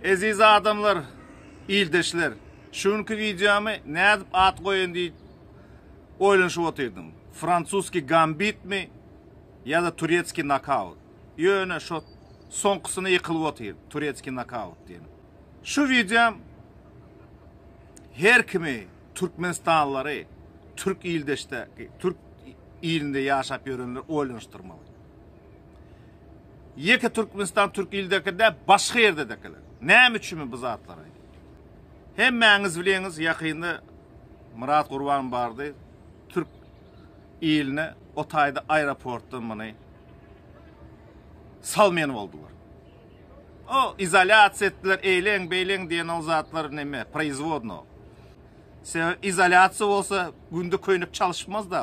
Eziz adamlar, ildeşler, şu günki wideomy nädip at goýaýyn diýip oýlanyşyp otyrdym. Fransuski gambitmi ýa-da turetski nokaut. Ýöne şo soňkusyna ýykylyp otyr, turetski nokaut diýen. Şu wideom her kimi türkmenistanlylary, türk ildeşde, türk ilinde ýaşap ýörenleri oýlanyşdyrmaly. Ýeke Türkmenistan Türk ildeki däl başga ýerdedekiler. Näme üçinmi bu zatlar aýt. Hemmäňiz bilýäňiz ýakynda Myrat Gurban bardy Türk iline o taýda aeroportdan muny salmaýan boldular. O izolýasiýa etdiler eýleň beýleň diýen o zatlar näme proizwodno. Sebäbi izolýasiýa bolsa günde köýnek çalyşmaz da.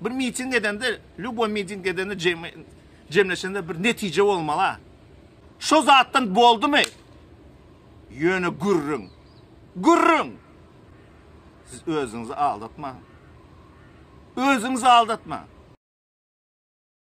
Bir miting edende, lýuboý miting edende jemleşende bir netije bolmaly-a. Şo zatdan boldumy? Ýöne gürrüň. Gürrüň! Siz özüňizi aldatmaň. Özüňizi aldatmaň.